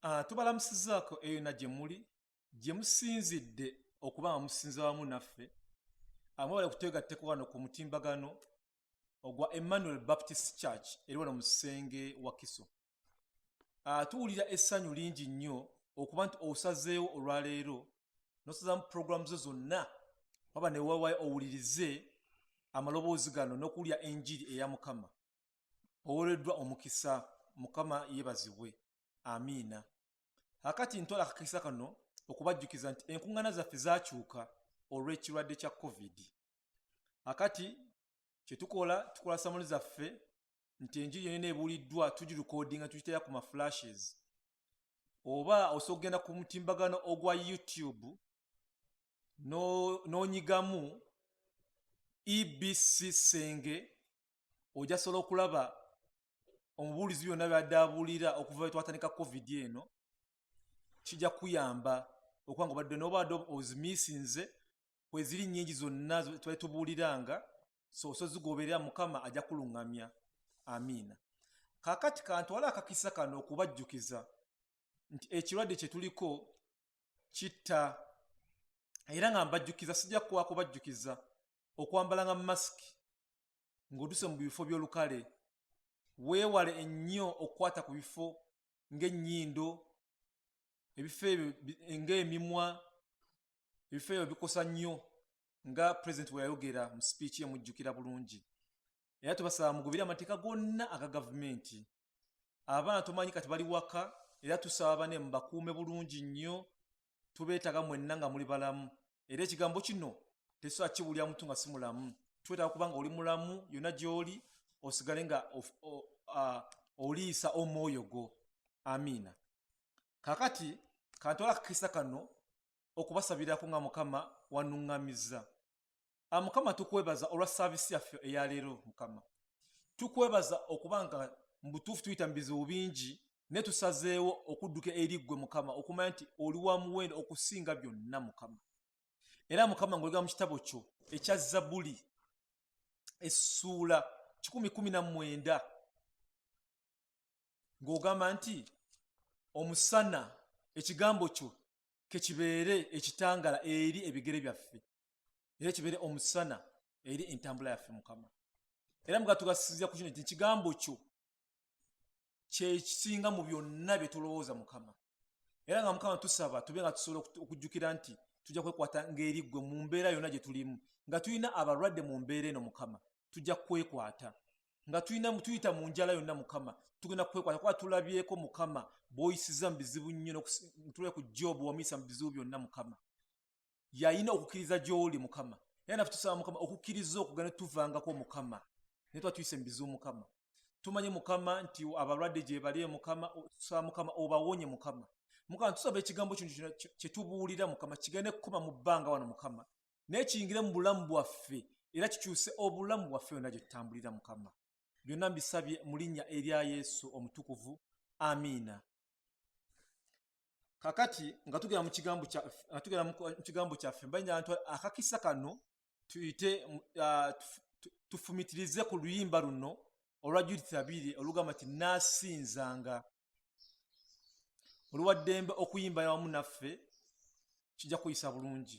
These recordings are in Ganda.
Ah, tubalamusizaako eyo na gye muli gye musinzidde okuba nga musinza wamu naffe amwebale ah, kutwegatteko wano ku mutimbagano ogwa emmanuel baptist church eri wano mu kisenge wakiso ah, tuwulira essanyu lingi nnyo okuba nti osazeewo olwaleero nosazamu puroguramu zo zonna waba newawayo owulirize amaloboozi gano n'okuwulira enjiri eya mukama owereddwa omukisa mukama yebazibwe amiina akati ntola akakisa kano okubajjukiza nti enkuŋŋana zaffe zakyuka olw'ekirwadde kya covid akati kyetukola tukola samuli zaffe nti enjiri yonena ebuuliddwa tugirukodinga tukitera ku maflashes oba osobola okugenda ku mutimbagano ogwa youtube n'onyigamu no ebc senge ojja sobola okulaba omubuulizi byonna byadde abuulira okuva wetwatandika covid eno kijja kuyamba okuba nga obadde nobadde ozimiisinze kweziri nyingi zonna twali tubuuliranga so osozigoberera mukama ajja kuluŋŋamya amiina kakati kantwala akakisa kano okubajjukiza nti ekirwadde kyetuliko kitta era nga mbajjukiza sijja kuwakubajjukiza okwambalanga masiki ng'otuse mu bifo by'olukale weewale ennyo okukwata ku bifo ng'ennyindo ebifo ebyo ng'emimwa ebifo ebyo bikosa nnyo nga pulezidenti we yayogera mu sipiiki emujjukira bulungi era tubasaba mugubire amateeka gonna aga gavumenti abaana tomanyi kati bali waka era tusaba bane mubakuume bulungi nnyo tubeetaga mwenna nga muli balamu era ekigambo kino tesobola kiwulira muntu nga si mulamu twetaaga kuba nga oli mulamu yonna gy'oli osigale nga oliisa omwoyo gwo amiina kakati kantwala kakisa kano okubasabirako nga mukama wanuŋŋamizza ah, mukama tukwebaza olwa saavisi yaffe eyaleero mukama tukwebaza okuba nga mu butuufu tuyita mu bizibu bingi naye tusazeewo okudduka eri ggwe mukama okumanya nti oli wa muwendo okusinga byonna mukama era mukama ngaolega mu kitabo kyo ekya zabuli essuula kikumi kumi na mwenda ng'ogamba nti omusana ekigambo kyo kekibeere ekitangala eri ebigere byaffe era kibeere omusana eri entambula yaffe mukama era muga tugasizira ku kino nti ekigambo kyo kyekisinga mu byonna bye tulowooza mukama era nga mukama tusaba tube nga tusobola okujjukira nti tujja kwekwata ng'eri ggwe mu mbeera yonna gye tulimu nga tulina abalwadde mu mbeera eno mukama tujja kwekwata nga tulina tuyita mu njala yonna mukama tugenda kwekwata kuba tulabyeko mukama bwoyisiza mu bizibu nnyo tulwe ku jobu wamuyisa mu bizibu byonna mukama yalina okukkiriza gy'oli mukama era nafe tusaba mukama okukkiriza okugana tuvangako mukama naye tuba tuyise mubizi omukama tumanye mukama nti abalwadde gyebali mukama tusaba mukama obawonye mukama mukama tusaba ekigambo kino kyetubuulira mukama kigende kukoma mu bbanga wano mukama naye kiyingire mu bulamu bwaffe era kikyuse obulamu bwaffe yonna gye tutambulira mukama byonna mbisabye mu linnya erya yesu omutukuvu amiina kakati nga tugera mukigambo kyaffe mbanya ntu akakisa kano tuyite tufumitirize ku luyimba luno olwa judith abiri olugamba nti nasinzanga oluwaddembe okuyimba yawamu naffe kijja kuyisa bulungi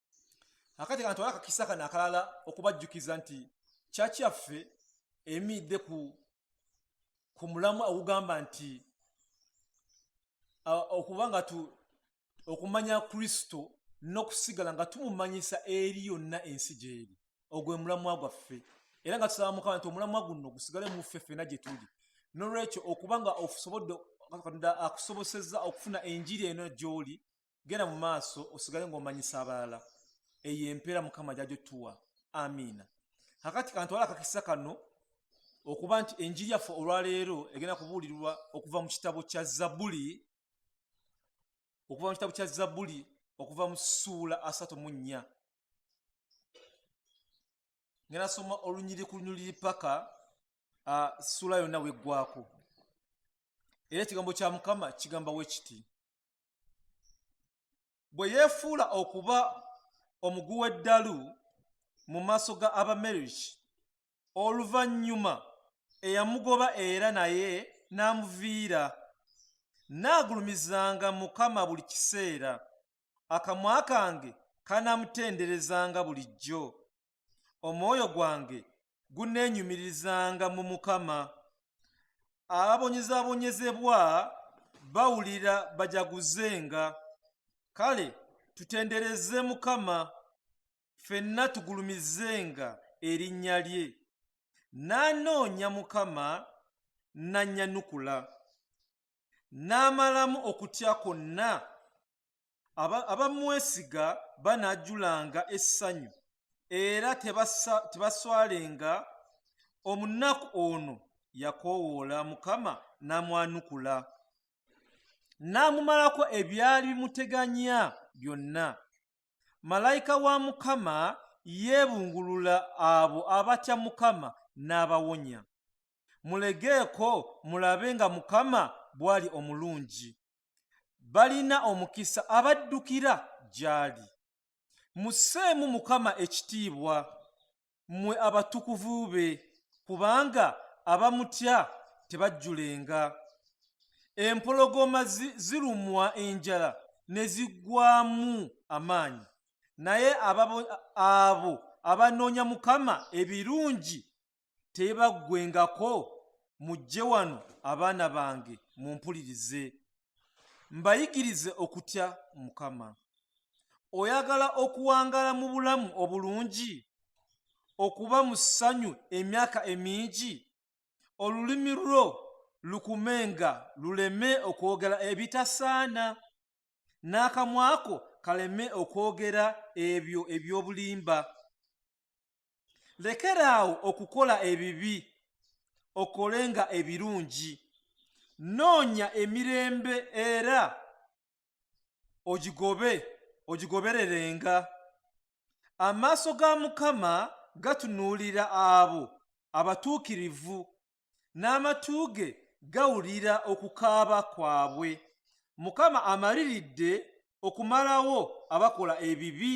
akati kanatwala akakisa kano akalala okubajjukiza nti kyaki yaffe emiidde ku ku mulamu ogugamba nti okuba nga tu okumanya kristo n'okusigala nga tumumanyisa eri yonna ensi gyeri ogwe mulamwa gwaffe era nga tusaba mukama nti omulamwa guno gusigale muffe ffena gye tuli nolwekyo okuba nga okusobodde katonda akusobosezza okufuna enjiri eno gy'oli genda mu maaso osigale ng'omanyisa abalala eyo empeera mukama jajo tuwa amiina kakati kantwala akakisa kano okuba nti enjiri yaffe olwaleero egenda kubuulirwa okuva mu kitabo kya zabuli okuva mu kitabo kya zabuli okuva mu suula asatu mu nnya ngenasoma olunyiri ku lunyiriri paka suula yonna weggwako era ekigambo kya mukama kigamba we kiti bwe yeefuula okuba omugu w'eddalu mu maaso ga abameriki oluvannyuma eyamugoba era naye n'amuviira naagulumizanga mukama buli kiseera akamwa kange kanaamutenderezanga bulijjo omwoyo gwange guneenyumiririzanga mu mukama ababonyezabonyezebwa bawulira bajaguzenga kale tutendereze mukama fenna tugulumizenga erinnya lye nanoonya mukama nanyanukula n'amalamu okutya kwonna abamwesiga banaajulanga essanyu era tebaswalenga omunaku ono yakoowoola mukama n'amwanukula n'amumalako ebyali bimuteganya byonna malayika wa mukama yeebungulula abo abatya mukama n'abawonya mulegeeko mulabe nga mukama bw'ali omulungi balina omukisa abaddukira gy'ali. Musseemu Mukama ekitiibwa, mmwe abatukuvu be, kubanga abamutya tebajjulenga. Empologoma zirumwa enjala ne ziggwaamu amaanyi, naye abo abanoonya Mukama ebirungi tebaggwengako mujje wano abaana bange mumpulirize mbayigirize okutya mukama oyagala okuwangala mu bulamu obulungi okuba mu ssanyu emyaka emingi olulimi lwo lukume nga luleme okwogera ebitasaana n'akamwako kaleme okwogera ebyo eby'obulimba lekeraawo okukola ebibi okole nga ebirungi noonya emirembe era ogigobe ogigobererenga amaaso ga mukama gatunuulira abo abatuukirivu n'amatu ge gawulira okukaaba kwabwe mukama amaliridde okumalawo abakola ebibi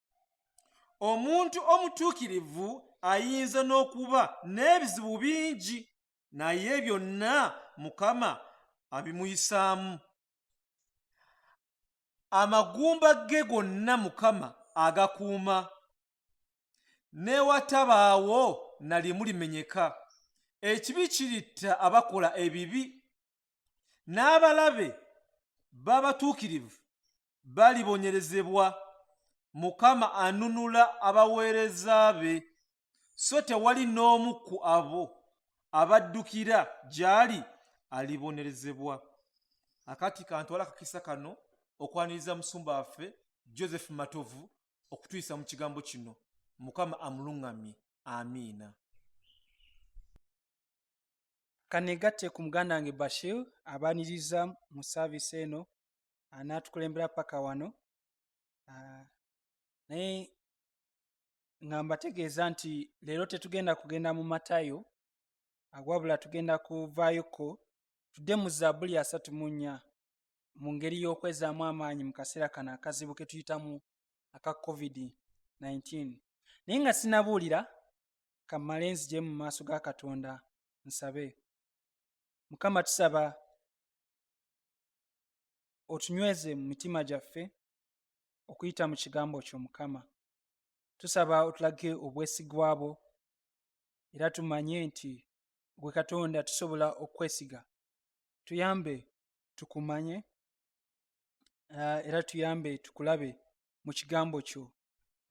omuntu omutuukirivu ayinza n'okuba n'ebizibu bingi naye byonna mukama abimuyisaamu amagumba ge gonna mukama agakuuma newatabaawo nalimu limenyeka ekibi kiritta abakola ebibi n'abalabe b'abatuukirivu balibonyerezebwa mukama anunula abaweereza be so tewali n'omu ku abo abaddukira gy'ali alibonerezebwa akati kantwala akakisa kano okwaniriza musumba waffe joseph matovu okutuyisa mu kigambo kino mukama amuluŋŋamye amiina Kanegatte ku muganda wange Bashir abaniriza mu saaviisi eno anaatukulembera paka wano ah, naye nga mbategeeza nti leero tetugenda kugenda mu matayo ah, wabula tugenda kuvaayoko tudde mu zaabuli asatu mu nnya mu ngeri y'okwezaamu amaanyi mu kaseera kano akazibu ke tuyitamu aka covid-19 naye nga sinabuulira kammale nzije mu maaso ga katonda nsabe mukama tusaba otunyweze mu mitima gyaffe okuyita mu kigambo kyo mukama tusaba otulage obwesigwa bwo era tumanye nti gwe katonda tusobola okwesiga tuyambe tukumanye ah, era tuyambe tukulabe mu kigambo kyo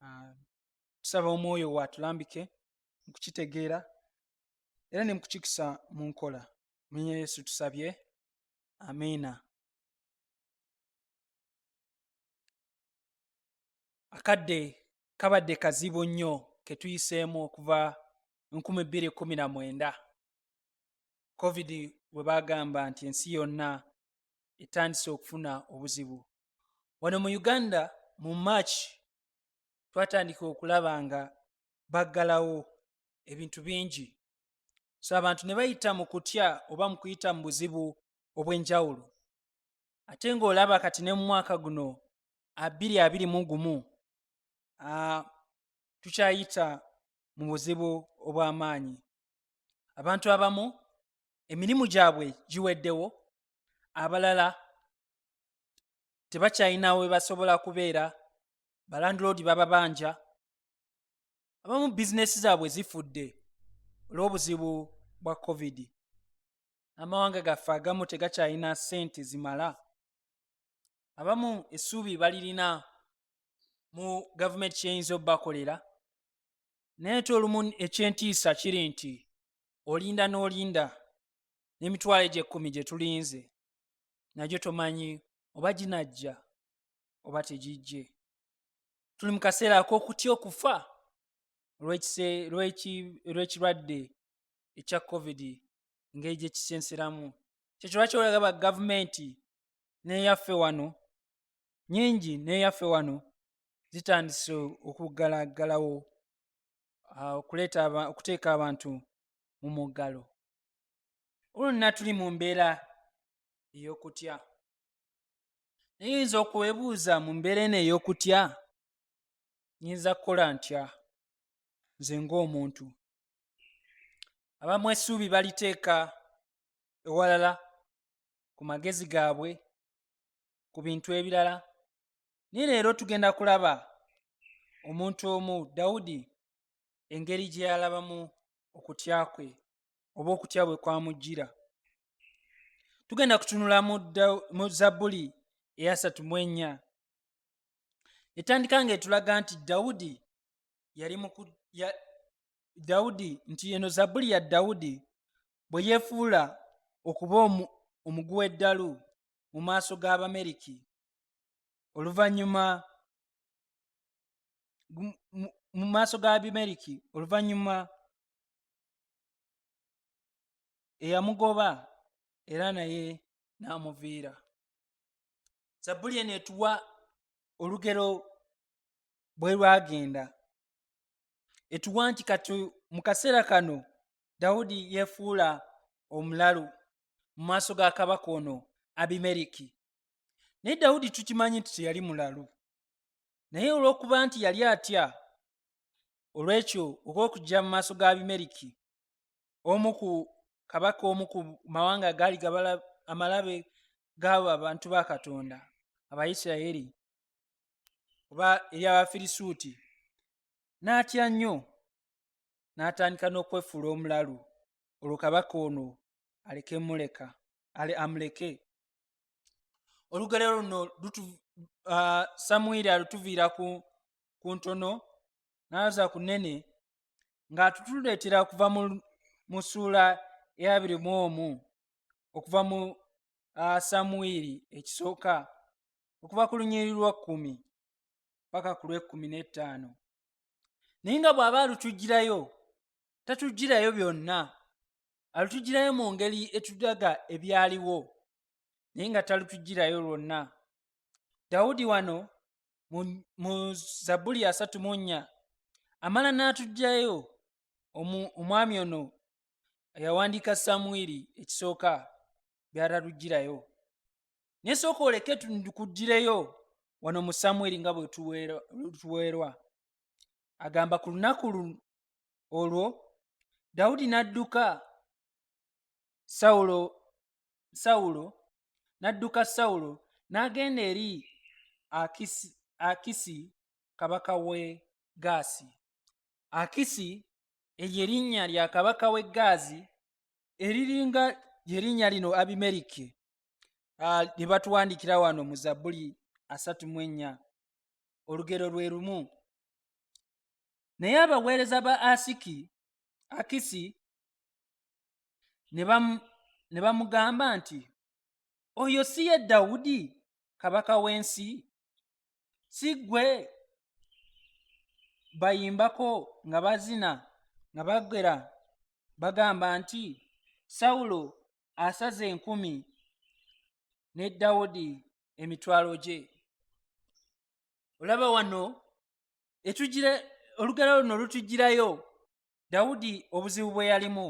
ah, tusaba omwoyo waatulambike mu kukitegeera era ne mukukikisa mu nkola munya yesu tusabye amiina akadde kabadde kazibu nnyo ketuyiseemu okuva 219 covid bwe bagamba nti ensi yonna etandise okufuna obuzibu wano mu uganda mu march twatandika okulaba nga baggalawo ebintu bingi so abantu ne bayita mu kutya oba mu kuyita mu buzibu obw'enjawulo ate ng'olaba kati ne mu mwaka guno abiri abiri mu gumu tukyayita mu buzibu obw'amaanyi abantu abamu emirimu gyabwe giweddewo abalala tebakyalina we basobola kubeera balandiloodi bababanja abamu bizinesi zaabwe zifudde olw'obuzibu bwa covid amawanga gaffe agamu tegakyalina ssente zimala abamu essuubi balirina mu gavumenti kyeyinza obubakolera naye ti olumu ekyentiisa kiri nti olinda n'olinda n'emitwalo egy'ekkumi gye tulinze nagyo tomanyi oba ginajja oba tegijje tuli mu kaseera ak'okutya okufa lw'ekirwadde ekya covid engeri gye kisenseramu kyekyo lwaki olaga ba gavumenti n'eyaffe wano nyingi n'eyaffe wano zitandise okuggalaggalawo ah, okuleeta okuteeka abantu mu muggalo olwonna tuli mu mbeera ey'okutya naye oyinza okuwebuuza mu mbeera eno ey'okutya nyinza kukola ntya nze ng'omuntu abamu essuubi baliteeka ewalala ku magezi gaabwe ku bintu ebirala naye leero tugenda kulaba omuntu omu dawudi engeri gye yalabamu okutya kwe oba okutya bwe kwamujjira tugenda kutunula mu zabbuli eyasatu mu ennya etandika nga etulaga nti dawudi yali muku ya, dawudi nti eno zabbuli ya dawudi bwe yeefuula okuba omuguwa eddalu mu maaso g'abameriki oluvannyuma mu maaso g'abameriki oluvannyuma eyamugoba era naye n'amuviira zabbuli eno etuwa olugero bwe lwagenda etuwa nti kati mu kaseera kano dawudi yeefuula omulalu mu maaso ga kabaka ono abimeriki naye dawudi tukimanyi nti teyali mulalu naye olw'okuba nti yali atya olw'ekyo oba okujja mu maaso ga abimeriki omu ku kabaka omu ku mawanga agaali gabala amalabe gaabo abantu ba katonda abaisiraeri oba eri abafirisuuti n'atya nnyo n'atandika n'okwefuula omulalu olwo kabaka ono aleke muleka ale amuleke olugero luno uh, samwiri alutuviira ku ku ntono n'aza ku nnene ng'atutuleetera okuva mu ssuula eyabiri mu omu okuva mu samwiri ekisooka okuva ku lunyiriri lwa kkumi paka ku lw'ekkumi n'ettaano naye nga bw'aba alutujjirayo tatujjirayo byonna alutujjirayo mu ngeri etudaga ebyaliwo naye nga talutujjirayo lwonna dawudi wano mu zabbuli asatu mu nnya amala n'atuggyayo omwami ono yawandiika samwiri ekisooka byataluggirayo naye sooka oleke tukuggireyo wano mu samwiri nga bwe tuweerwa agamba ku lunaku olwo dawudi n'adduka sawulo sawulo n'adduka sawulo n'agenda eri akisi, akisi kabaka w'e gaasi akisi eryo erinnya lya kabaka w'e gaazi eriringa lyerinnya lino abimeriki ah, lye batuwandikira wano mu zabbuli asatu mu ennya olugero lwe lumu naye abaweereza ba asiki akisi ne bamugamba nti oyo si ye dawudi kabaka w'ensi si gwe bayimbako nga bazina nga bagera bagamba nti sawulo asaze enkumi ne dawudi emitwalo gye olaba wano etugira olugero luno lutugirayo dawudi obuzibu bwe yalimu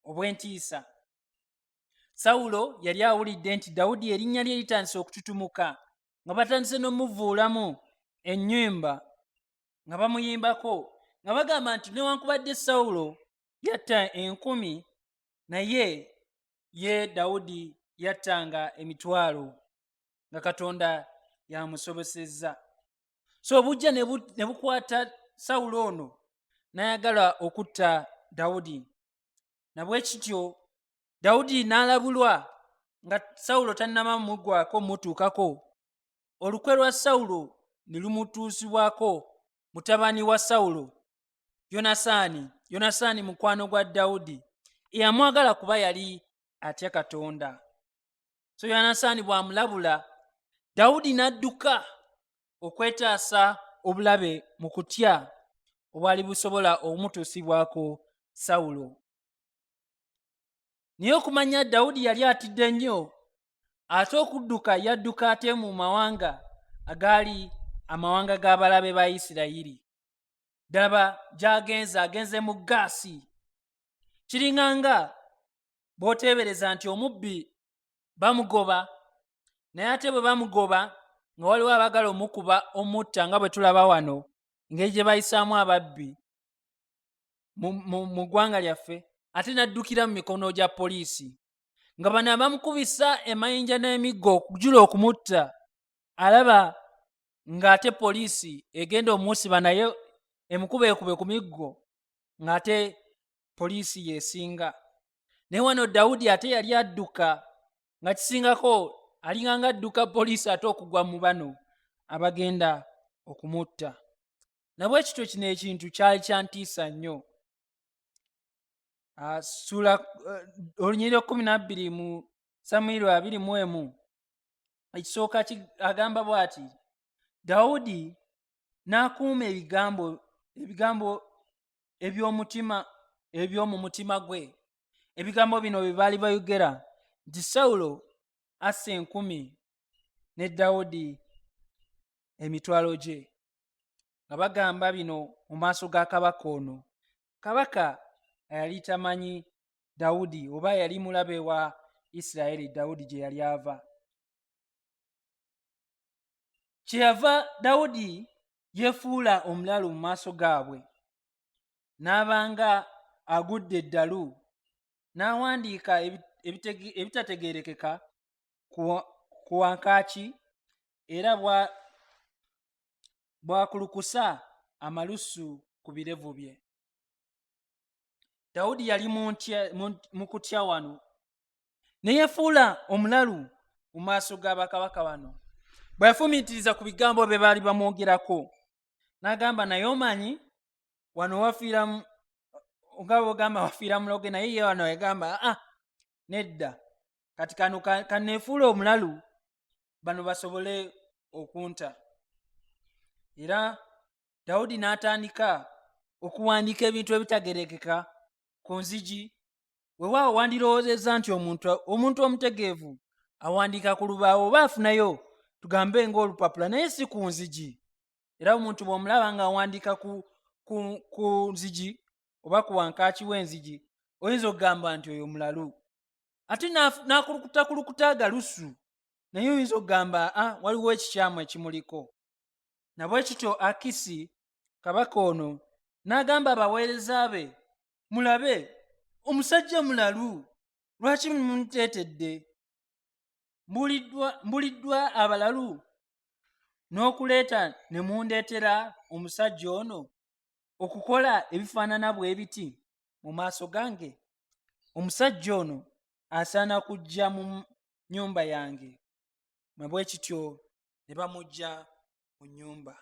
obw'entiisa sawulo yali awulidde nti dawudi erinnya lye litandise okututumuka nga batandise n'omuvuulamu ennyimba nga bamuyimbako nga bagamba nti newankubadde sawulo yatta enkumi naye ye dawudi yattanga emitwalo nga katonda yamusobosezza so obujja ne bukwata sawulo ono n'ayagala okutta dawudi nabwe kityo dawudi n'alabulwa nga sawulo tannama mugwako mutuukako olukwe lwa sawulo ne lumutuusibwako mutabani wa sawulo yonasaani yonasaani mukwano gwa dawudi eyamwagala kuba yali atya katonda so yonasaani bw'amulabula dawudi n'adduka okwetaasa obulabe mu kutya obwali busobola okumutuusibwako sawulo naye okumanya dawudi yali atidde nnyo ate okudduka yadduka ate mu mawanga agaali amawanga g'abalabe ba isirayiri ddaba gyagenze agenze mu gaasi kiringanga b'oteebereza nti omubbi bamugoba naye ate bwe bamugoba nga waliwo abagala omukuba omutta nga bwe tulaba wano engeri gye bayisaamu ababbi mu ggwanga lyaffe ate n'addukira mu mikono gya poliisi nga bano abamukubisa emayinja n'emiggo okujula okumutta alaba ng'ate poliisi egenda omusiba naye emukubeekube ku miggo ng'ate poliisi yesinga naye wano dawudi ate yali adduka nga kisingako alinganga adduka poliisi ate okugwa mu bano abagenda okumutta nabwe kityo kino ekintu kyali kyantiisa nnyo ah, sula eh, olunyiriro kumi nabbiri mu samwiri abiri mu emu ekisooka agamba bw'ati dawudi n'akuuma ebigambo ebigambo eby'omutima eby'omu mutima gwe ebigambo bino bye baali bayogera nti sawulo assa enkumi ne dawudi emitwalo gye nga bagamba bino mu maaso ga kabaka ono kabaka yali tamanyi dawudi oba yali mulabe wa isirayiri dawudi gye yali ava kyeyava dawudi yefuula omulalu mu maaso gaabwe n'abanga agudde eddalu n'awandiika ebitategeerekeka ku wankaaki era bwakulukusa amalusu ku birevu bye dawudi yali mu kutya wano ne yefuula omulalu mu maaso ga bakabaka bano bwe yafumiitiriza ku bigambo bye baali bamwogerako n'agamba naye omanyi wano wafiira nga bwogamba wafiira muloge naye ye wano yagamba aa ah, nedda kati kano kaneefuula omulalu bano basobole okunta era dawudi n'atandika okuwandiika ebintu ebitagerekeka ku nzigi wewaawo wandirowoozezza nti omuntu omuntu omutegeevu awandiika ku lubaawo oba afunayo tugambe ng'olupapula naye si ku nzigi era omuntu bw'omulaba ng'awandiika ku, ku, ku nzigi oba ku wankaaki w'enzigi oyinza okugamba nti oyo mulalu ate n'akulukutakulukute agalusu naye oyinza okugamba a ah, waliwo ekikyamu ekimuliko nabwe kityo akisi kabaka ono n'agamba abaweereza be mulabe omusajja mulalu lwaki mumuteetedde mbuliddwa abalalu n'okuleeta ne mundeetera omusajja ono okukola ebifaanana bw'ebiti mu maaso gange omusajja ono asaana kujja mu nnyumba yange mwe bwe kityo ne bamujja mu nnyumba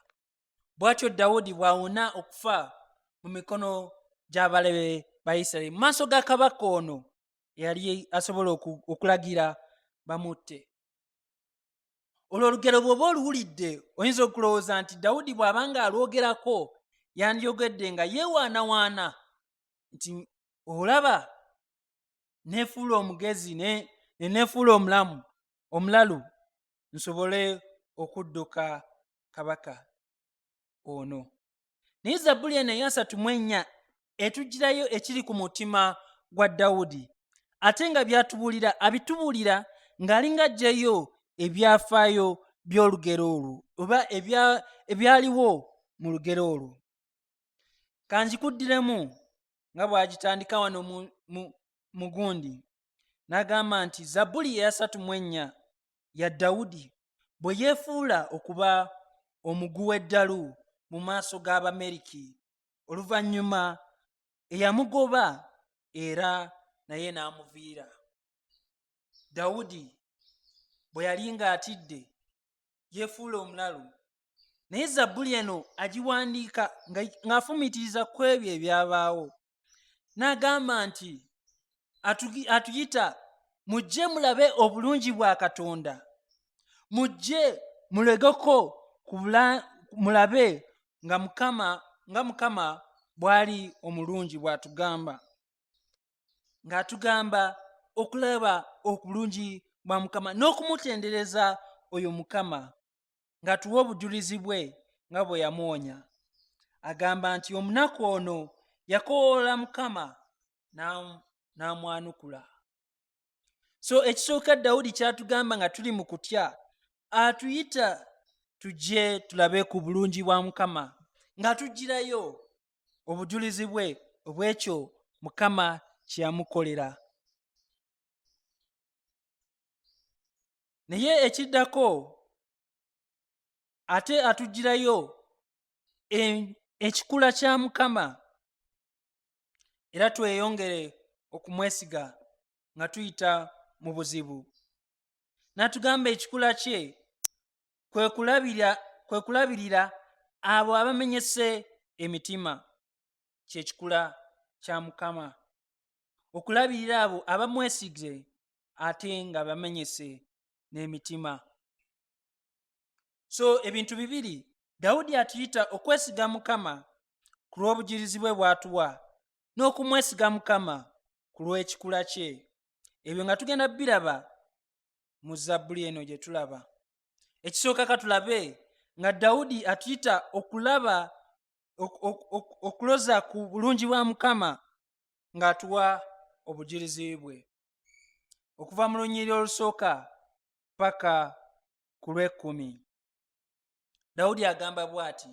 bw'atyo dawudi bw'awona okufa mu mikono gy'abalabe ba isiraeri mu maaso ga kabaka ono eyali asobola okulagira bamutte olwo olugero bw'oba oluwulidde oyinza okulowooza nti dawudi bw'aba nga alwogerako yandiyogedde nga yeewaanawaana nti olaba nefuula omugezi nenefuula omulamu omulalu nsobole okudduka kabaka ono naye zabbuli eno eyasatu mu ennya etugirayo ekiri ku mutima gwa dawudi ate nga byatubuulira abitubuulira ng'alinga ajjayo ebyafaayo by'olugero olwo oba ebyaliwo mu lugero olwo kanjikuddiremu nga bw'agitandika wano mu gundi n'agamba nti zabbuli eyasatu mu ennya ya Dawudi bwe yeefuula okuba omuguwa eddalu mu maaso g'Abameriki oluvannyuma eyamugoba era naye n'amuviira. Dawudi bwe yali ng'atidde yeefuula omulalu naye zabbuli eno agiwandiika ng'afumiitiriza ku ebyo ebyabaawo n'agamba nti atuyita mujje mulabe obulungi bwa katonda mujje mulegeko mulabe nga mukama nga mukama bwali omulungi bw'atugamba ng'atugamba okulaba obulungi bwa mukama n'okumutendereza oyo mukama ng'atuwa obujulizi bwe nga bwe yamuwonya agamba nti omunaku ono yakowoola mukama n'amwanukula so ekisooka dawudi kyatugamba nga tuli mu kutya atuyita tujje tulabe ku bulungi bwa mukama nga tugirayo obujulizi bwe obwekyo mukama kyeyamukolera naye ekiddako ate atugirayo e, ekikula kya mukama era tweyongere okumwesiga nga tuyita mu buzibu natugamba ekikula kye kwe kulabirira abo abamenyese emitima kyekikula kya mukama okulabirira abo abamwesize ate nga bamenyese n'emitima so ebintu bibiri dawudi atuyita okwesiga mukama ku lw'obujirizi bwe bwatuwa n'okumwesiga mukama ku lw'ekikula kye ebyo nga tugenda biraba mu zabbuli eno gye tulaba ekisooka katulabe nga dawudi atuyita okulaba okuloza ku bulungi bwa mukama ng'atuwa obujirizi bwe okuva mu lunyiri olusooka paka ku lw'ekkumi dawudi agamba bw'ati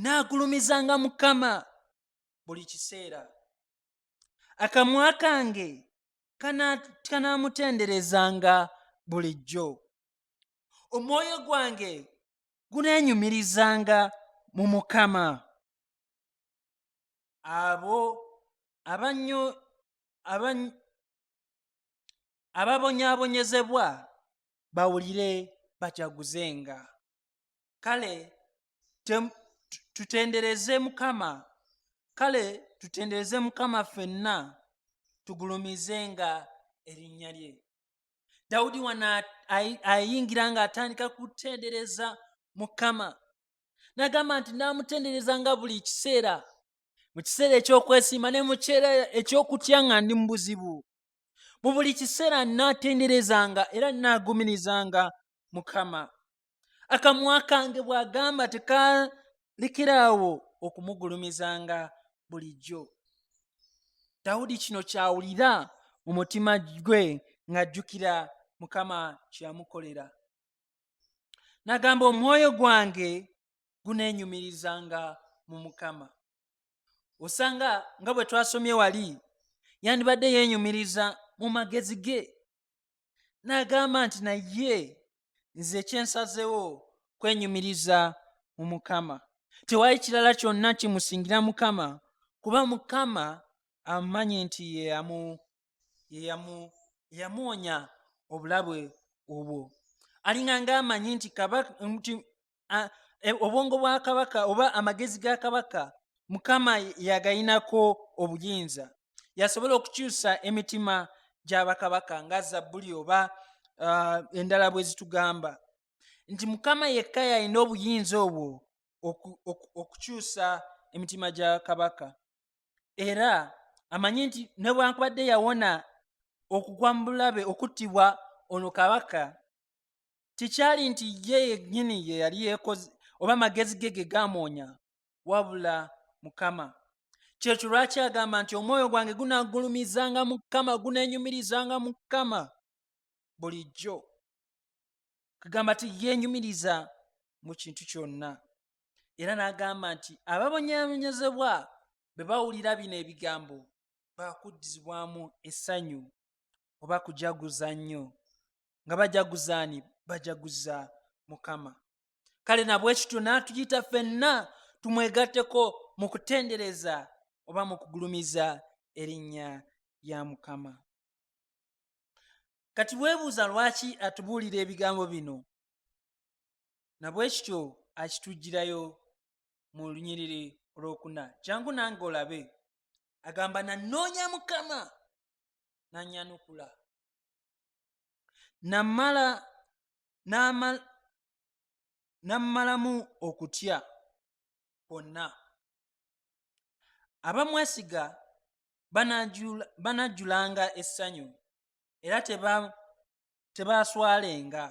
naagulumizanga mukama buli kiseera akamwa kange kanaamutenderezanga bulijjo omwoyo gwange guneenyumirizanga mu mukama abo abanyo abany ababonyaabonyezebwa bawulire bajaguzenga kale tutendereze mukama kale tutendereze mukama ffenna tugulumizenga erinnya lye dawudi wano ayingira ng'atandika kutendereza mukama nagamba nti namutendereza nga buli kiseera mu kiseera ekyokwesiima ne mukiseera ekyokutya nga ndi mu buzibu mu buli kiseera natenderezanga era nagumirizanga mukama akamwa kange bwagamba tekalekerawo okumugulumizanga bulijjo dawudi kino kyawulira mu mutima gwe ng'ajjukira mukama kyeyamukolera nagamba omwoyo gwange guneenyumirizanga mu mukama osanga nga bwe twasomye wali yandibadde yeenyumiriza mu magezi ge n'agamba nti naye nze kyensazewo kwenyumiriza mu mukama tewali kirala kyonna kimusingira mukama kuba mukama amanyi nti ye yeyamuwonya obulabwe obwo alinga nga amanyi nti e, obwongo bwa kabaka oba amagezi ga kabaka mukama yagayinako obuyinza yasobola okukyusa emitima gyabakabaka nga zabbuli oba uh, endala bwe zitugamba nti mukama yekka yalina obuyinza obwo okukyusa emitima gya kabaka era amanyi nti nebwankubadde yawona okugwa mu bulabe okuttibwa ono kabaka tekyali nti ye yennyini ye yali yekoze oba magezi ge ge gamwonya wabula mukama kyekyo lwaki agamba nti omwoyo gwange gunagulumizanga mukama gunenyumirizanga mukama bulijjo kagamba ti yenyumiriza mu kintu kyonna era n'agamba nti ababonyabonyezebwa bwe bawulira bino ebigambo baakuddizibwamu essanyu oba kujaguza nnyo nga bajaguzaani bajaguza mukama kale nabwe kityo n'atuyita fenna tumwegatteko mu kutendereza oba mu kugulumiza erinnya lya mukama kati weebuuza lwaki atubuulira ebigambo bino na bwe kityo akitujjirayo mu lunyiriri olwokuna jangu nange olabe agamba nanoonya mukama nanyanukula namala nammalamu okutya kwonna abamwesiga banajjulanga essanyu era tebaaswalenga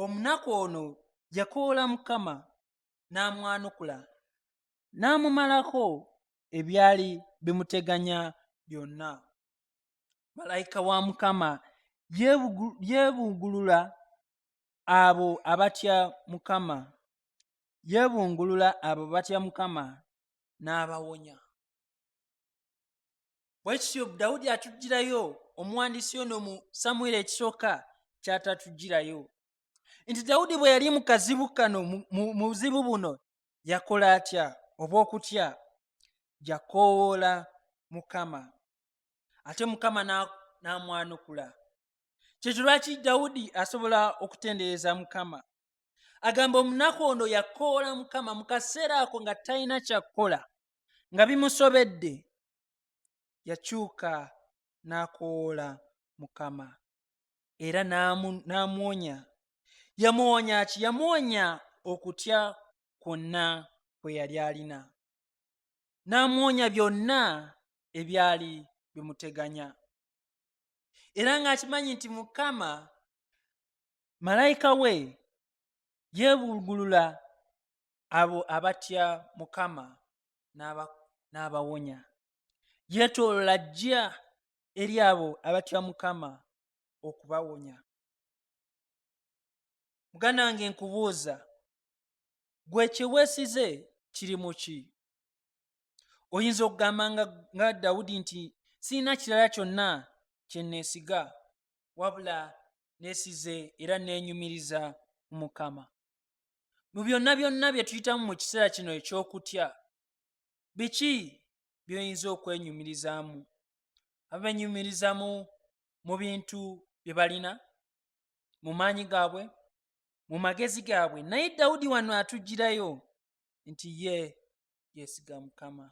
omunaku ono yakoola mukama n'amwanukula n'amumalako ebyali bimuteganya byonna malayika wa mukama yeebungulula abo abatya mukama yeebungulula abo batya mukama n'abawonya bwe kityo dawudi atugirayo omuwandiisi ono mu samwiri ekisooka kyatatugirayo nti dawudi bwe yali mu kazibu kano mu buzibu buno yakola atya oba okutya yakoowoola mukama ate mukama n'amwanukula kyekyo lwaki dawudi asobola okutendereza mukama agamba omunaku ono yakoola mukama mu kaseera ako nga talina kyakukola nga bimusobedde yakyuka n'akowoola mukama era n'amuwonya yamuwonya ki yamuwonya okutya kwonna kwe yali alina n'amuwonya byonna ebyali bimuteganya era ng'akimanyi nti mukama malayika we yeebulgulula abo abatya mukama n'abawonya yeetoolola ajja eri abo abatya mukama okubawonya muganda wange nkubuuza gwe kyeweesize kiri mu ki oyinza okugamba nga dawudi nti sirina kirala kyonna kye neesiga wabula neesize era neenyumiriza mu mukama mu byonna byonna bye tuyitamu mu kiseera kino eky'okutya biki by'oyinza okwenyumirizaamu abenyumirizaamu mu bintu bye balina mu maanyi gaabwe mu magezi gaabwe naye dawudi wano atugirayo nti ye yesiga mukama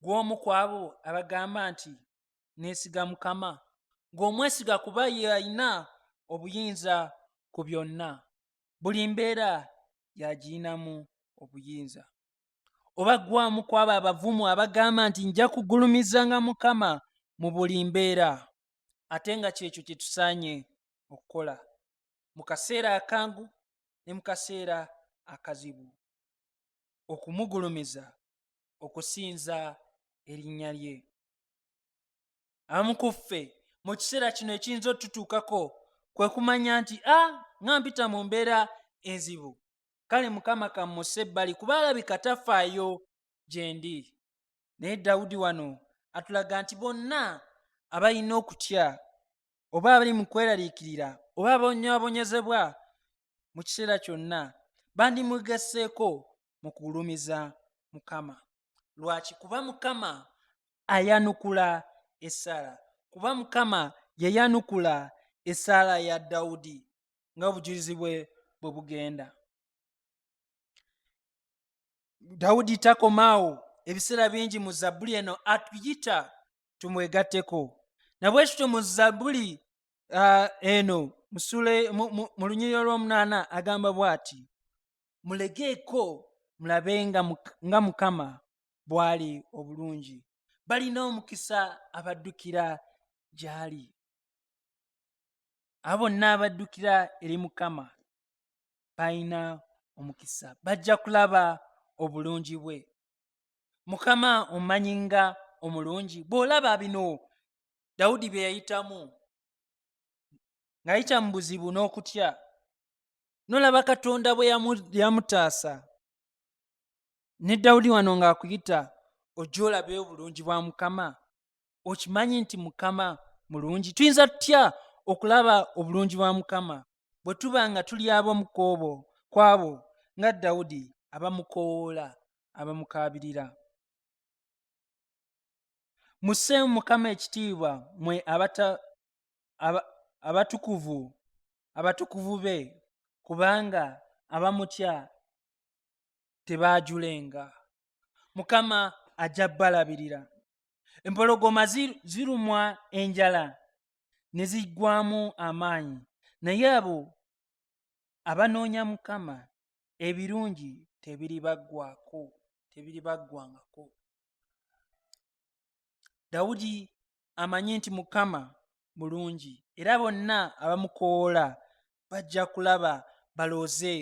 gw'omu ku abo abagamba nti nesiga mukama ng'omwesiga kuba ye alina obuyinza ku byonna buli mbeera yagiyinamu obuyinza oba gwamu kwabo abavumu abagamba nti nja kugulumizanga mukama mu buli mbeera ate nga kyekyo kyetusaanye okukola mu kaseera akangu ne mu kaseera akazibu okumugulumiza okusinza erinnya lye abamu ku ffe mu kiseera kino ekiyinza otutuukako kwe kumanya nti a ah, nga mpita mu mbeera enzibu kale mukama kammuse ebbali kuba alabika tafaayo gye ndi naye dawudi wano atulaga nti bonna abalina okutya oba abali mu kweraliikirira oba abonyabonyezebwa mu kiseera kyonna bandimugeseeko mu kugulumiza mukama lwaki kuba mukama ayanukula esaala kuba mukama yayanukula esaala ya dawudi nga obujulizi bwe bwe bugenda dawudi takomaawo ebiseera bingi mu zabbuli eno atuyita tumwegatteko nabwe kityo mu zabbuli uh, eno mu lunyiriro lw'omunaana agamba bw'ati mulegeeko mulabe nga mukama bw'ali obulungi balina omukisa abaddukira gy'ali abo bonna abaddukira eri mukama balina omukisa bajja kulaba obulungi bwe mukama omanyi nga omulungi bw'olaba bino dawudi bye yayitamu ng'ayita mu buzibu n'okutya nolaba katonda bwe yamutaasa ne dawudi wano ng'akuyita ojja olabe obulungi bwa mukama okimanyi nti mukama mulungi tuyinza tutya okulaba obulungi bwa mukama bwe tuba nga tuli abamukoobo kwabo nga dawudi abamukowoola abamukaabirira musseemu mukama ekitiibwa mwe abatukuvu abatukuvu be kubanga abamutya tebaajulenga mukama ajja balabirira empologoma zirumwa enjala ne ziggwamu amaanyi naye abo abanoonya mukama ebirungi tebiribaggwako tebiribaggwangako dawudi amanyi nti mukama mulungi era bonna abamukoola bajja kulaba balooze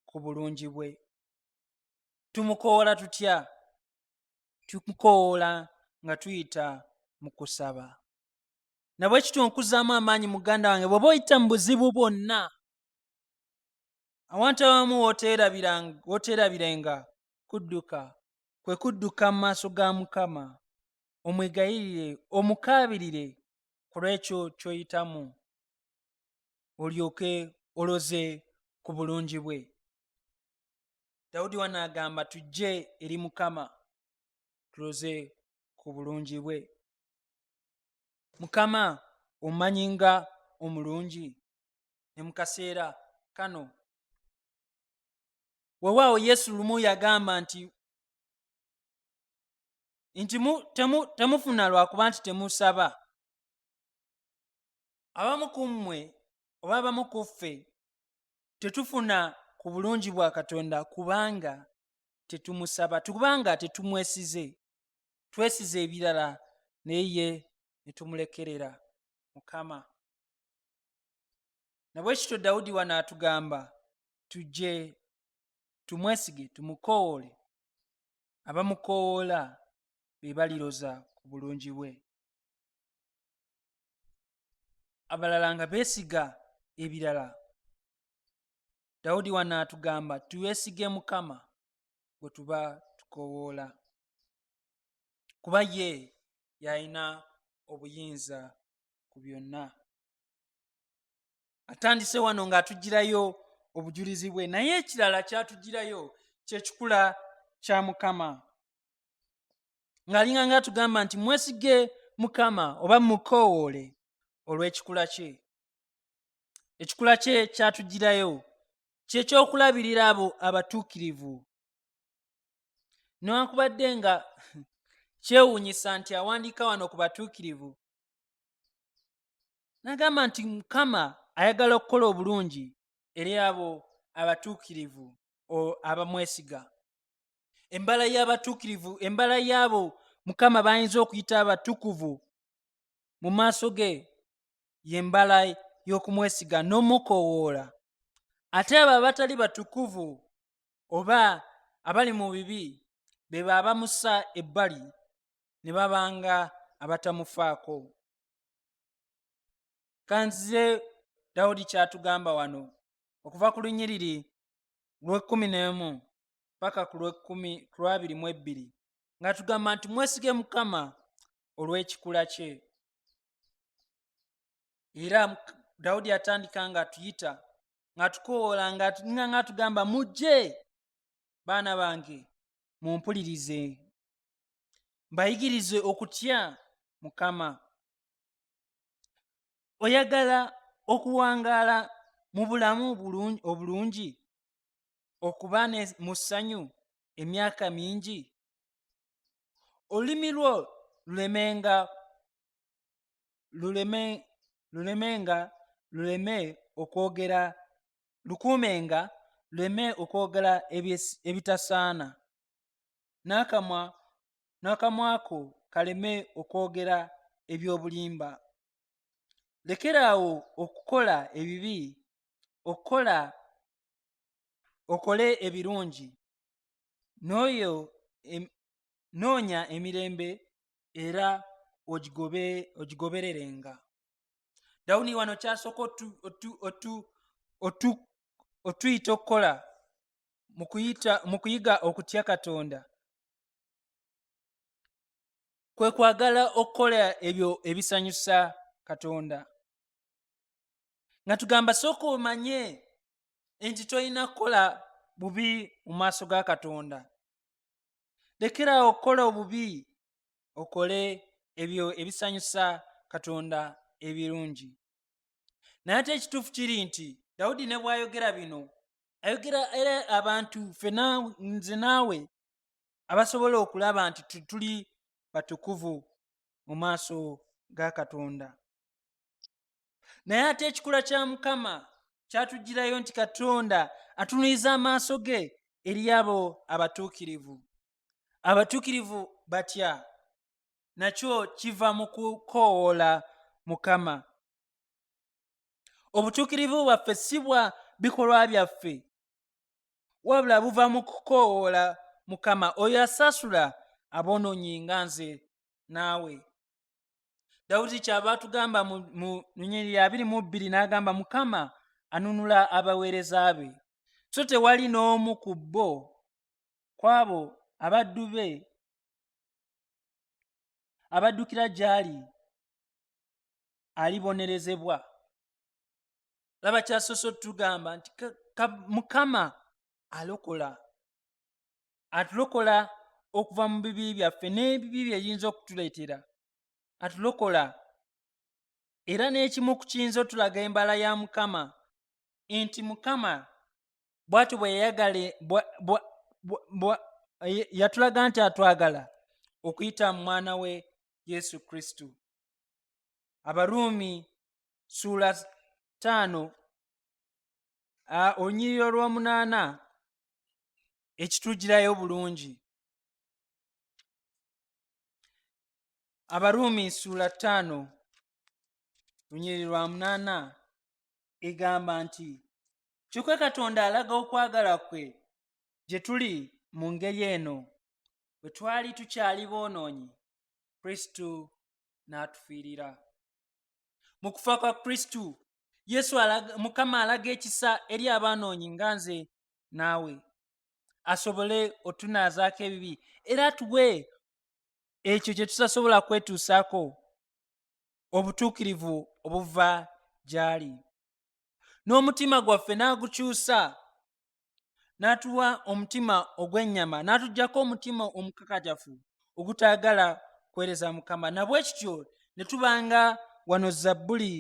ku bulungi bwe tumukoola tutya tumukoola nga tuyita mu kusaba nabwe kityo nkuzaamu amaanyi muganda wange bweoba oyita mu buzibu bwonna awantu abamu woteerabirenga kudduka kwe kudduka mu maaso ga mukama omwegayirire omukaabirire ku lw'ekyo ky'oyitamu olyoke oloze ku bulungi bwe dawudi wano agamba tujje eri mukama tuloze ku bulungi bwe mukama omanyi nga omulungi ne mu kaseera kano wewaawo yesu lumu yagamba nti nti temufuna lwakuba nti temusaba abamu ku mmwe oba abamu ku ffe tetufuna ku bulungi bwa katonda kubanga tetumusaba kubanga tetumwesize twesize ebirala naye ye netumulekerera mukama nabwe kityo dawudi wano atugamba tujje tumwesige tumukowoole abamukoowoola be baliroza ku bulungi bwe abalala nga beesiga ebirala dawudi wano atugamba tuweesige mukama bwe tuba tukoowoola kuba ye yalina obuyinza ku byonna atandise wano ng'atugirayo obujulizi bwe naye ekirala kyatugirayo kyekikula kya mukama ng'alinga nga atugamba nti mwesige mukama oba mukoowoole olw'ekikula kye ekikula kye kyatugirayo kyekyokulabirira abo abatuukirivu newankubadde nga kyewuunyisa nti awandiika wano ku batuukirivu n'agamba nti mukama ayagala okukola obulungi eri abo abatuukirivu abamwesiga embala y'abatuukirivu embala y'abo mukama bayinza okuyita abatukuvu mu maaso ge yembala y'okumwesiga n'omukoowoola ate abo abatali batukuvu oba abali mu bibi be baabamusa ebbali ne babanga abatamufaako kanzize dawudi kyatugamba wano okuva ku lunyiriri lw'ekkumi n'emu paka ku lw'ekkumi ku lwabiri mu ebbiri nga tugamba nti mwesige mukama olw'ekikula kye era dawudi atandika nga atuyita ngatukowoola nga nga atugamba mujje baana bange mumpulirize mbayigirize okutya mukama oyagala okuwangaala mu bulamu obulungi okuba mu ssanyu emyaka mingi olulimi lwo lulemenga luleme lulemenga luleme okwogera lukuumenga luleme okwogera ebitasaana n'akamwa n'akamwa ko kaleme okwogera eby'obulimba lekeraawo okukola ebibi okukola okole ebirungi n'oyo noonya emirembe era ogigobe ogigobererenga dawuni wano kyasooka otuyita okukola mu kuyiga okutya katonda kwe kwagala okukola ebyo ebisanyusa katonda nga tugamba sooka omanye nti tolina kukola bubi mu maaso ga katonda lekerawo okukola obubi okole ebyo ebisanyusa katonda ebirungi naye ate ekituufu kiri nti dawudi ne bwayogera bino ayogera era abantu fena nze naawe abasobola okulaba nti tuli batukuvu mu maaso ga katonda naye ate ekikula kya mukama kyatugirayo nti katonda atunuliza amaaso ge eri abo abatuukirivu abatuukirivu batya nakyo kiva mu kukoowoola mukama obutuukirivu bwaffe si bwa bikolwa byaffe wabula buva mu kukoowoola mukama oyo asasula aboononyi nga nze naawe dawudi kyava atugamba mu lunyiri ya biri mu bbiri n'agamba mukama anunula abaweereza be so tewali n'omu ku bo kwabo abaddu be abaddukira gy'ali alibonerezebwa laba kyasoose otugamba nti mukama alokola atulokola okuva mu bibi byaffe n'ebibi byeyinza okutuleetera atulokola era n'ekimu ku kiyinza otulaga embala ya mukama nti mukama bwati bweyayagale yatulaga nti atwagala okuyita mu mwana we yesu kristo abaruumi suula taano olunyiriri olw'omunaana ekitugirayo bulungi abaruumi suula taano lunyiriri lwa munaana egamba nti kyokka katonda alaga okwagala kwe gye tuli mu ngeri eno bwe twali tukyali boonoonyi kristo n'atufiirira mu kufa kwa kristo yesu mukama alaga ekisa eri abaanoonyi nga nze naawe asobole otunaazaako ebibi era atuwe ekyo kye tutasobola kwetuusaako obutuukirivu obuva gy'ali n'omutima gwaffe n'agukyusa n'atuwa omutima ogw'ennyama n'atugyako omutima omukakajafu ogutaagala kuweereza mukama nabwe kityo ne tubanga wano zabbuli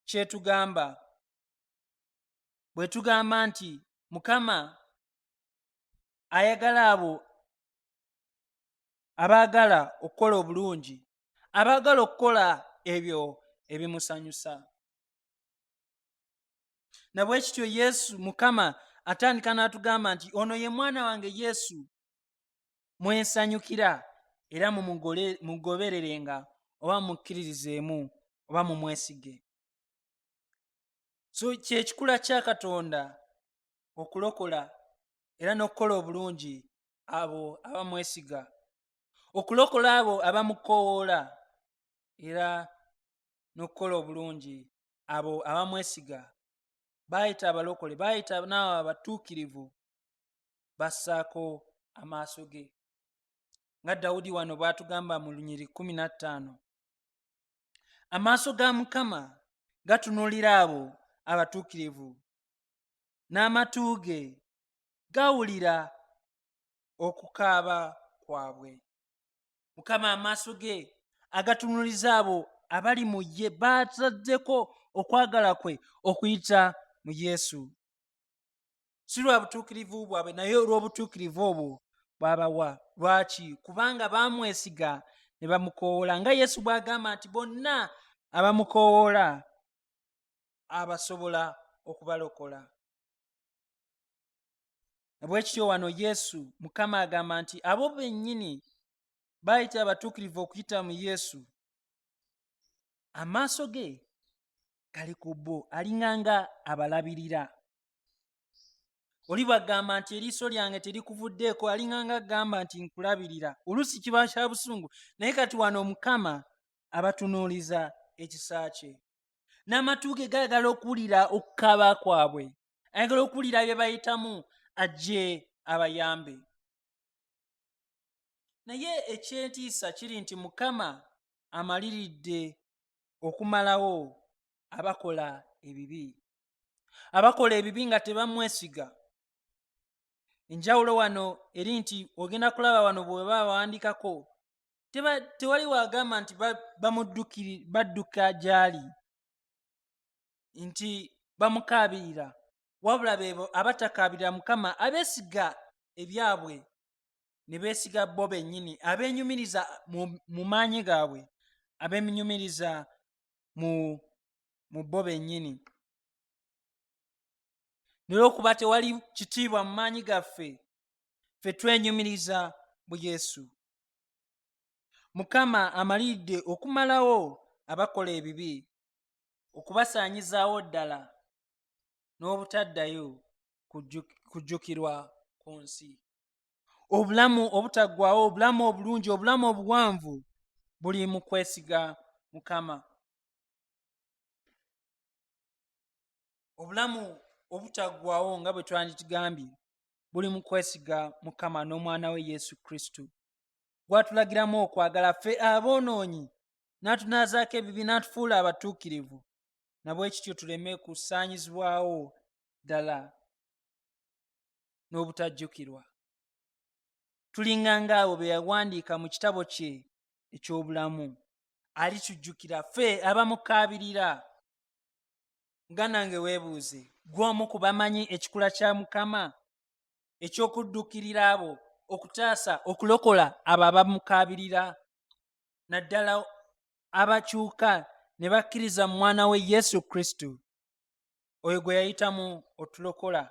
kyetugamba bwe tugamba nti mukama ayagala abo abaagala okukola obulungi abaagala okukola ebyo ebimusanyusa na bwe kityo yesu mukama atandika n'atugamba nti ono ye mwana wange yesu mwensanyukira era mumugobererenga oba mukkiririzeemu oba mumwesige so kyekikula kya katonda okulokola era n'okukola obulungi abo abamwesiga okulokola abo abamukowoola era n'okukola obulungi abo abamwesiga baayita abalokole baayita naawe abatuukirivu bassaako amaaso ge nga dawudi wano bw'atugamba mu lunyiri kumi na ttaano amaaso ga mukama gatunuulira abo abatuukirivu n'amatu ge gawulira okukaaba kwabwe mukama amaaso ge agatunuliza abo abali mu ye baataddeko okwagala kwe okuyita mu yesu si lwa butuukirivu bwabwe naye olw'obutuukirivu obwo bwabawa lwaki kubanga baamwesiga ne bamukoowoola nga yesu bw'agamba nti bonna abamukoowoola abasobola okubalokola bwekityo wano yesu mukama agamba nti abo bennyini bayita abatuukirivu okuyita mu yesu amaaso ge gali ku bo alinganga abalabirira oli bwagamba nti eriiso lyange terikuvuddeeko alinganga agamba nti nkulabirira oluusi kiba kya busungu naye kati wano omukama abatunuuliza ekisa kye n'amatu ge gayagala okuwulira okukaba kwabwe ayagala okuwulira bye bayitamu ajje abayambe naye ekyentiisa kiri nti mukama amaliridde okumalawo abakola ebibi abakola ebibi nga tebamwesiga enjawulo wano eri nti ogenda kulaba wano bweba bawandikako tewali wagamba nti badduka gyali nti bamukaabirira wabula beebo abatakaabirira mukama abeesiga ebyabwe ne beesiga bo bennyini abeenyumiriza mu maanyi gaabwe abenyumiriza mu mu bo bennyini nolwokuba tewali kitiibwa mu maanyi gaffe fe twenyumiriza mu yesu mukama amaliridde okumalawo abakola ebibi okubasaanyizaawo ddala n'obutaddayo kujjukirwa ku nsi obulamu obutaggwawo obulamu obulungi obulamu obuwanvu buli mu kwesiga mukama obulamu obutaggwawo nga bwe twandikigambye buli mu kwesiga mukama n'omwana we yesu kristo gwatulagiramu okwagala ffe aboonoonyi n'atunaazaako ebibi n'atufuula abatuukirivu na bwe kityo tuleme kusaanyizibwawo ddala n'obutajjukirwa tulinga ng'abo be yawandiika mu kitabo kye eky'obulamu alitujjukira ffe abamukaabirira nga nange weebuuze gw'omu ku bamanyi ekikula kya mukama eky'okuddukirira abo okutaasa okulokola abo abamukaabirira naddala abakyuka ne bakkiriza mu mwana we yesu kristo oyo gwe yayitamu otulokola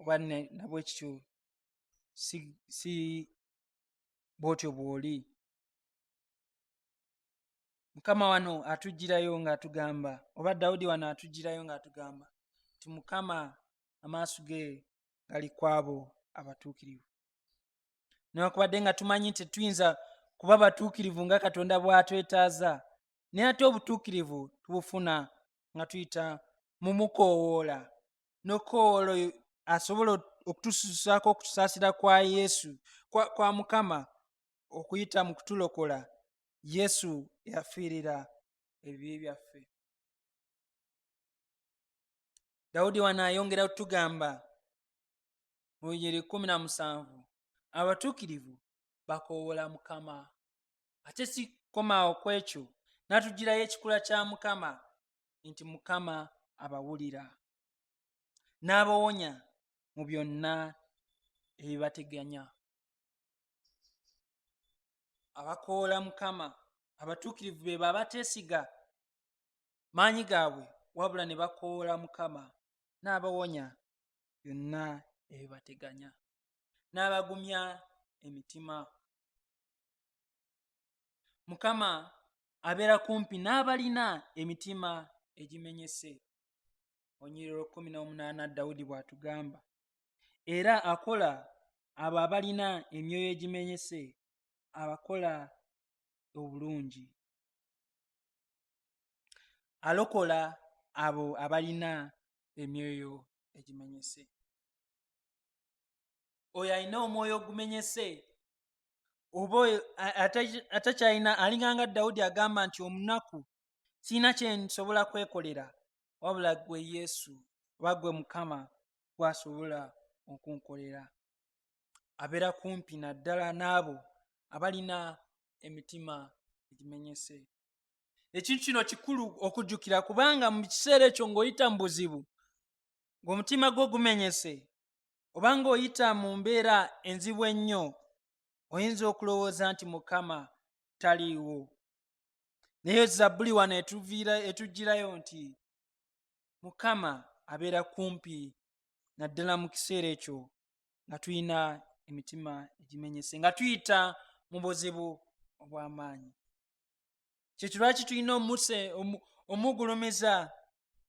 oba nabwe kityo si, si bwotyo bw'oli mukama wano atugirayo ng'atugamba oba dawudi wano atugirayo ng'atugamba ti mukama amaaso ge gali kwabo abatuukirivu newankubadde nga tumanyi nti tetuyinza kuba batuukirivu nga katonda bw'atwetaaza naye ate obutuukirivu tubufuna nga tuyita mu mukoowoola n'okukoowoola oyo asobola okutususaako okutusaasira kwa yesu kwa, kwa mukama okuyita mu kutulokola yesu yafiirira ebibi byaffe dawudi wano ayongera okutugamba mu bigero ekkumi na musanvu abatuukirivu bakoowola mukama ate sikomaawo ku ekyo natugirayo ekikula kya mukama nti mukama abawulira n'abawonya mu byonna ebibateganya abakoola mukama abatuukirivu be babateesiga maanyi gaabwe wabula ne bakoola mukama n'abawonya byonna ebibateganya n'abagumya emitima mukama abeera kumpi n'abalina emitima egimenyese onyiriro kumi n'omunaana dawudi bw'atugamba era akola abo abalina emyoyo egimenyese abakola obulungi alokola abo abalina emyoyo egimenyese oyo alina omwoyo ogumenyese oba oyo atakyalina alinganga dawudi agamba nti omunaku sirina kyensobola kwekolera wabula gwe yesu oba gwe mukama gwasobola okunkolera abeera kumpi naddala n'abo abalina emitima egimenyese ekintu kino kikulu okujjukira kubanga mu kiseera ekyo ng'oyita mu buzibu ng'omutima gwo gumenyese oba ng'oyita mu mbeera enzibu ennyo oyinza okulowooza nti mukama taliiwo naye zabbuli wano etuviira etugirayo nti mukama abeera kumpi naddala mu kiseera ekyo nga tulina emitima egimenyese nga tuyita mu buzibu obw'amaanyi kyetulwaki tulina omuse omugulumiza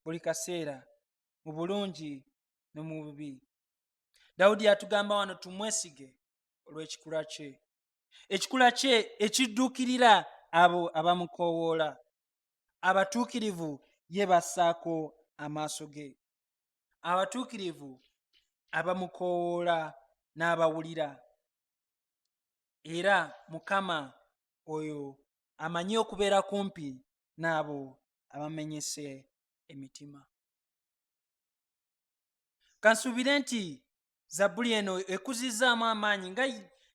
buli kaseera mu bulungi ne mu bubi dawudi yatugamba wano tumwesige olw'ekikula kye ekikula kye ekidduukirira abo abamukoowoola abatuukirivu ye bassaako amaaso ge abatuukirivu abamukoowoola n'abawulira era mukama oyo amanyi okubeera kumpi n'abo abamenyese emitima kansuubire nti zabbuli eno ekuzizzaamu amaanyi nga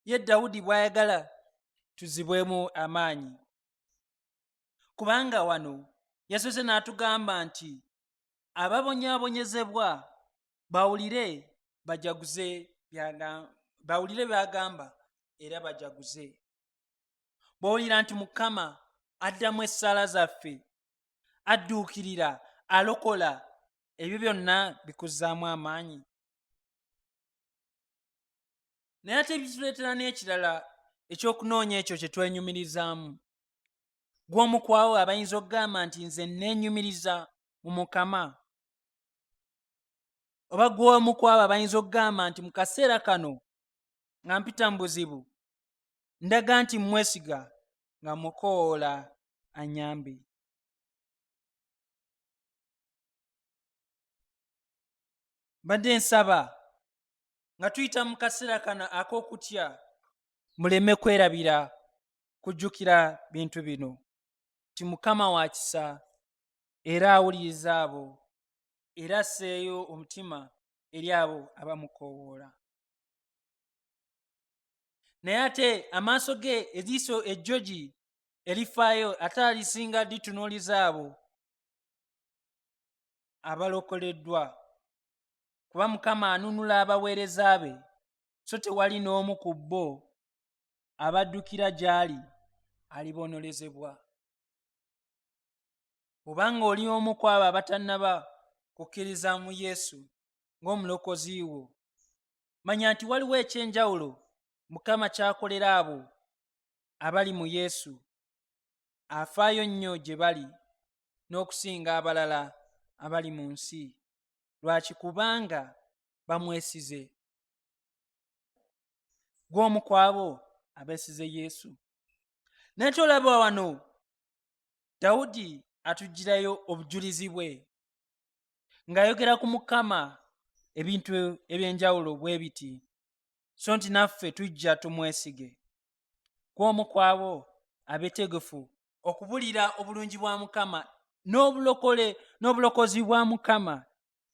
ye dawudi bw'ayagala tuzibwemu amaanyi kubanga wano yasoose n'atugamba nti ababonyaabonyezebwa bawulire bajaguze bawulire byagamba era bajaguze bw'owulira nti mukama addamu essaala zaffe adduukirira alokola ebyo byonna bikuzzaamu amaanyi naye ate bituleetera n'ekirala ekyokunoonya ekyo kye twenyumirizaamu gw'omukwawo abayinza okugamba nti nze neenyumiriza mu mukama oba gw'omu kwabo abayinza okugamba nti mu kaseera kano nga mpita mu buzibu ndaga nti mmwesiga nga mukoola anyambe mbadde nsaba nga tuyita mu kaseera kano ak'okutya muleme kwerabira kujjukira bintu bino nti mukama wa kisa era awuliriza abo era asseeyo omutima eri abo abamukoowoola naye ate amaaso ge eriiso ejjogi erifaayo ate alisinga litunuuliza abo abalokoleddwa kuba mukama anunula abaweereza be so tewali n'omu ku bo abaddukira gy'ali aliboonolezebwa obanga oli omu ku abo abatannaba kukkiriza mu yesu ng'omulokozi wo manya nti waliwo eky'enjawulo mukama kyakolera abo abali mu yesu afaayo nnyo gye bali n'okusinga abalala abali mu nsi lwaki kubanga bamwesize gw'omu kwabo abeesize yesu naye tolaba wano dawudi atugirayo obujulizi bwe ng'ayogera ku mukama ebintu eby'enjawulo bwe biti so nti naffe tujja tumwesige ku omu kwabo abetegefu okubulira obulungi bwa mukama n'obulokole n'obulokozi bwa mukama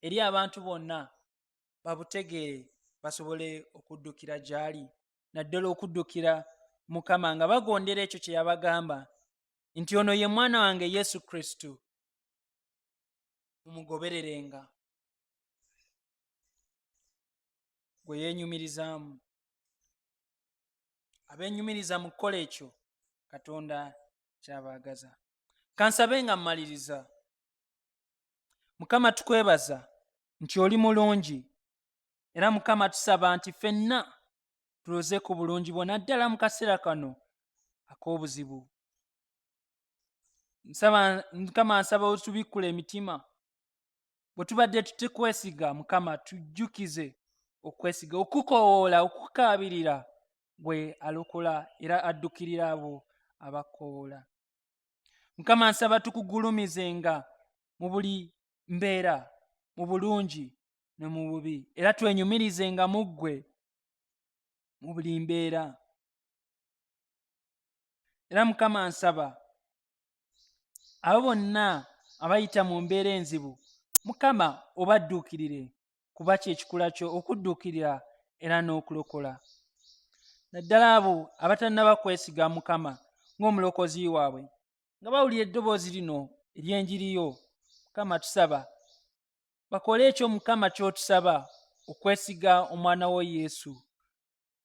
eri abantu bonna babutegeere basobole okuddukira gy'ali naddala okuddukira mukama nga bagondera ekyo kye yabagamba nti ono ye mwana wange yesu kristo mumugobererenga gwe yenyumirizaamu abenyumiriza mu kukola ekyo katonda kyabaagaza kansabe nga mmaliriza mukama tukwebaza nti oli mulungi era mukama tusaba nti fenna tuloze ku bulungi bwo naddala mu kaseera kano ak'obuzibu mukama nsaba otubikkula emitima bwe tubadde tutekwesiga mukama tujjukize okwesiga okukowoola okukaabirira gwe alokola era addukirira abo abakowoola mukama nsaba tukugulumizenga mu buli mbeera mu bulungi ne mu bubi era twenyumirizenga mu ggwe mu buli mbeera era mukama nsaba abo bonna abayita mu mbeera enzibu mukama obadduukirire kuba kyekikula kyo okudduukirira era n'okulokola naddala abo abatannaba kwesiga mukama ng'omulokozi waabwe nga bawulira eddoboozi lino ery'enjiriyo mukama tusaba bakole ekyo mukama ky'otusaba okwesiga omwana wo yesu